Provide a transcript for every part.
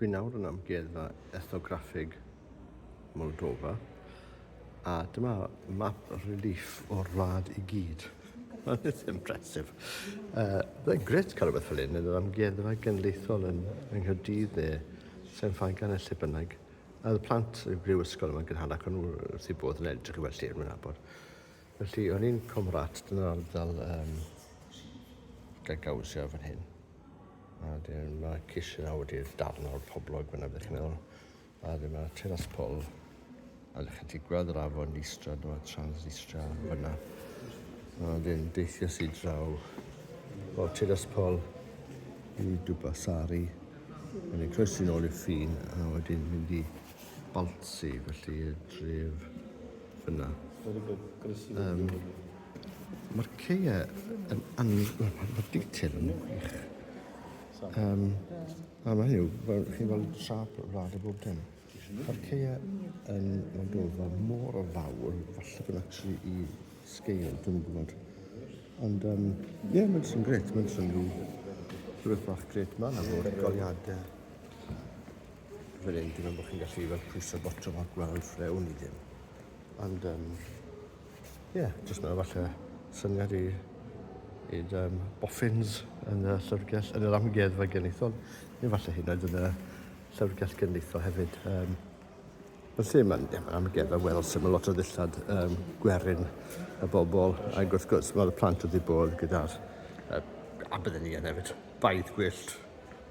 Dwi nawr yn Amgueddfa Ethnograffig Moldofa a dyma map relief o'r wlad i gyd. It's impressive. Uh, Byddai'n gret cael rhywbeth fel hyn yn yr amgueddfa genedlaethol yn, yng Nghyrdydd neu Sen Ffagan neu lle bynnag. A y plant y brifysgol yma'n gynharach o'n nhw wrth eu bodd yn edrych i weld lle yn mynd abod. Felly, o'n i'n Comrat, dyna'r ardal um, gael gawsio fan hyn. A dyn, mae Cish yna wedi'r darn o'r poblog fyna, byddwch chi'n meddwl. A dyn, mae Teras Pol, a ydych chi gweld yr afon Nistra, dyma Transnistria fyna. A dyn, deithio sy'n draw o Teras Pol i Dubasari, yn ei croesi'n ôl i'r ffin, a wedyn mynd i Balsi, felly y dref Fyna. Very good. Croeso i um, Mae'r ceia yn an... Mae'r detail yn wych. Um, a mae hynny, fel chi'n gweld trap rad o bob dim. Mae'r ceia yn Moldova mor o fawr, falle bod actually i sgeil, dwi'n gwybod. Ond, um, ie, yeah, mae'n sy'n gret, mae'n sy'n rhyw rhywbeth bach gret ma'n am o'r goliadau. Fel hyn, dim ond bod chi'n gallu fel pwyso botwm a gweld frewn i ddim. Ond, um, yeah, jyst mae'n falle syniad i i'r um, boffins yn y llyfrgell, yn yr amgueddfa genethol, neu falle hyn oedd yn y llyfrgell genethol hefyd. Um, yn lle mae'n yeah, ma amgueddfa weddol syml, lot o ddillad um, gwerin y bobl, ac wrth gwrs, mae'r plant wedi bod gyda'r uh, a bydden ni yn hefyd, baedd gwyllt,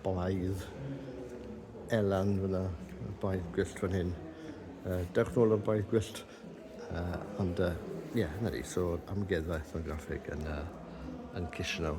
Baedd Elan fyna, baedd gwyllt fan hyn. Uh, dewch nôl o'r baedd gwyllt. Uh, ond, ie, uh, yeah, na ni, so amgueddfa ethnograffig yn, uh, yn Kishinev.